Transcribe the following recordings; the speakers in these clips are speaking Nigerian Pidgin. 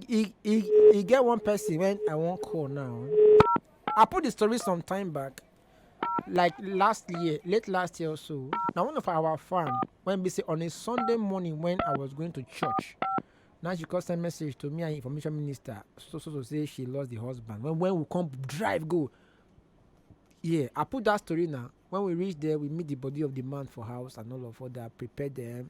e e e get one person when i wan call now i put the story some time back like last year late last year or so na one of our fan when be say on a sunday morning when i was going to church na she come send message to me and information minister so so so say she lost the husband when when we come drive go yeah i put that story now when we reach there we meet the body of the man for house and all of other prepare them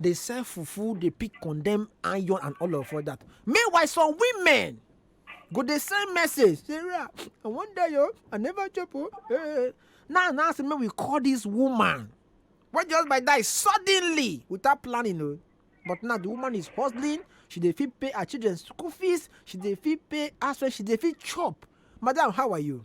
dey sell fufu dey pick condemn iron and all of all that meanwhile some women go dey send message sarah i wan die o i never chop o eh, eh, eh. now now say make we call this woman wey just by die suddenly without planning o but now the woman is hustling she dey fit pay her children school fees she dey fit pay house rent she dey fit chop madam how are you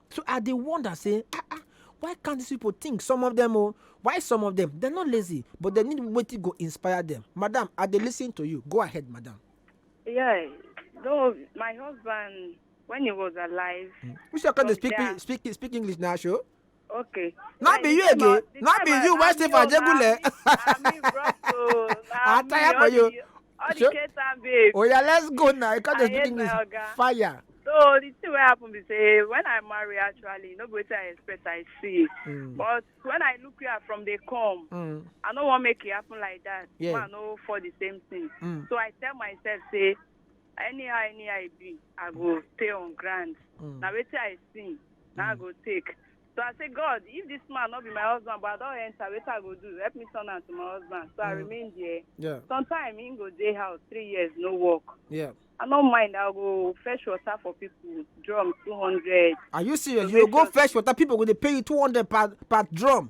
So I dey wonder say, ah ah, why can't these people think? Some of them, oh, why some of them? They're not lazy, but they need wetin go inspire them. Madam, I dey listen to you. Go ahead, madam. Yeah, though my husband, when he was alive, Mm. You sure can From speak, there. speak speak English now, show? okay. Not when be he you came again. out- the Not time be I- you, why I'm say for your Ajegule? mommy, I'm his brother, oh, I I'm tire your- for you. All the Ketan babes. Oh yeah, let's go now. You can't just do this. Fire. So the thing what happened is say when I marry actually, no better I expect I see. Mm. But when I look here from the come, mm. I don't want make it happen like that. Yeah. Man, no for the same thing. Mm. So I tell myself say anyhow anyhow I be, I go stay on ground. Mm. Now wait I see, now I go take. So I say, God, if this man not be my husband, but I don't enter, what I go do? Help me turn am to my husband. So I Mm. remain there. Yeah. Sometime he go day house, three years, no work. Yeah. I no mind, I'll go fetch water for people, drum 200. Are you serious? You go fetch water, people go dey pay you 200 per per drum.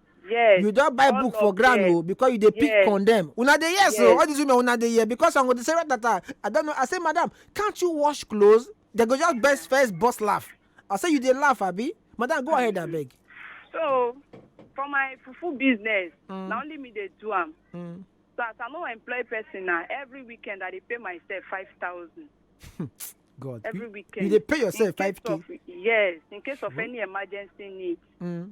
yes you don buy all book for of ground them. o because you dey pick Yes. condemn una dey hear so Yes. all these women una dey hear because i go dey say ratata i don know i say madam can't you wash clothes they go just burst first burst laugh i say you dey laugh abi madam go ahead abeg. so for my fufu business Mm. na only me dey do am Mm. so as i no employ person na every weekend i dey pay myself five thousand god every you, weekend you dey pay yourself In case five k. of- yes in case of any emergency need Mm.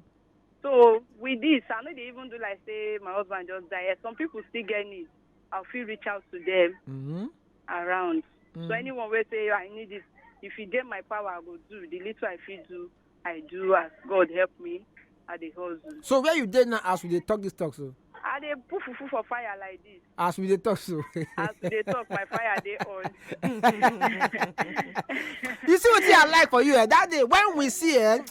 So with this, I know they even do like say my husband just died. Yes, Some people still get needs. I'll feel reach out to them Mm-hmm. around. So Mm. anyone will say I need this. If you get my power, I go do. The little I feel do, I do as God help me at the hustle. So where you dey now as we dey talk this talk so? I dey put fufu for fire like this. As we dey talk so. As we dey talk, my fire dey on. you see wetin i like for you eh that day when we see eh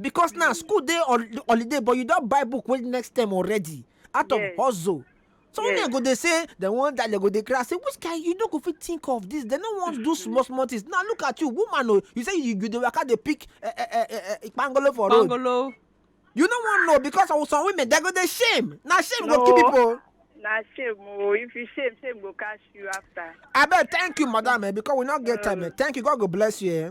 because now school dey hol- holiday but you don buy book wey next term already out of Yes. hustle so when Yes. dem go dey say dem wan die dem go dey cry say which kind you no go fit think of this dem no wan do small small things now look at you woman o you say you you dey waka dey pick eh, eh, eh, eh, eh, kpangolo for road Bangolo. you no wan know because of some women dem go dey shame na shame go kill No. people o. na shame o if you shame shame go catch you after. abeg thank you madam eh, because we no get time eh. thank you god go bless you eh.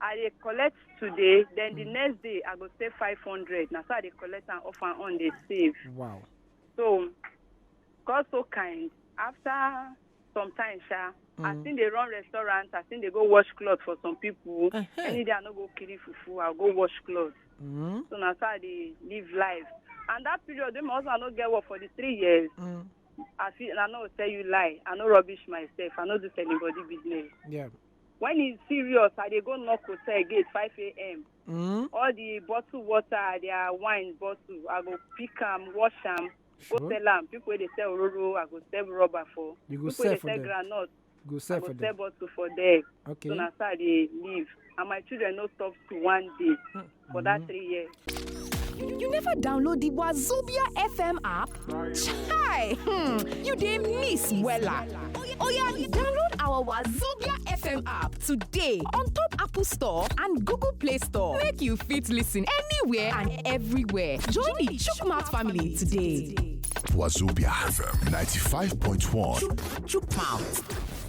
i dey collect today then the next day i go save five hundred na so i dey collect am off and on dey save wow so god so kind after some time sha i Mm. still dey run restaurant i still dey go wash cloth for some people Uh-huh. any day i no go kiri fufu i go wash cloth Mm, so na so i dey live life and that period wey my husband no get work for the three years mm, i fit i no go tell you lie i no rubbish myself i no do tell anybody business yeah when e serious i dey go knock hotel gate five am Mm? all the bottle water their wine bottle i go pick am wash am go Sure. sell am people wey dey sell ororo i go sell rubber for You go people wey sell dey for sell them. groundnut Go i sell go for sell them. bottle for there Okay. so na so i dey live and my children no stop school one day for that three years. You never download the Wazobia FM app? Chai! Hmm, you dey miss wella. Oya, download our Wazobia FM app today on top Apple Store and Google Play Store. Make you fit listen anywhere and everywhere. Join the Chukmat family today. Wazobia FM 95.1. Chukmouth.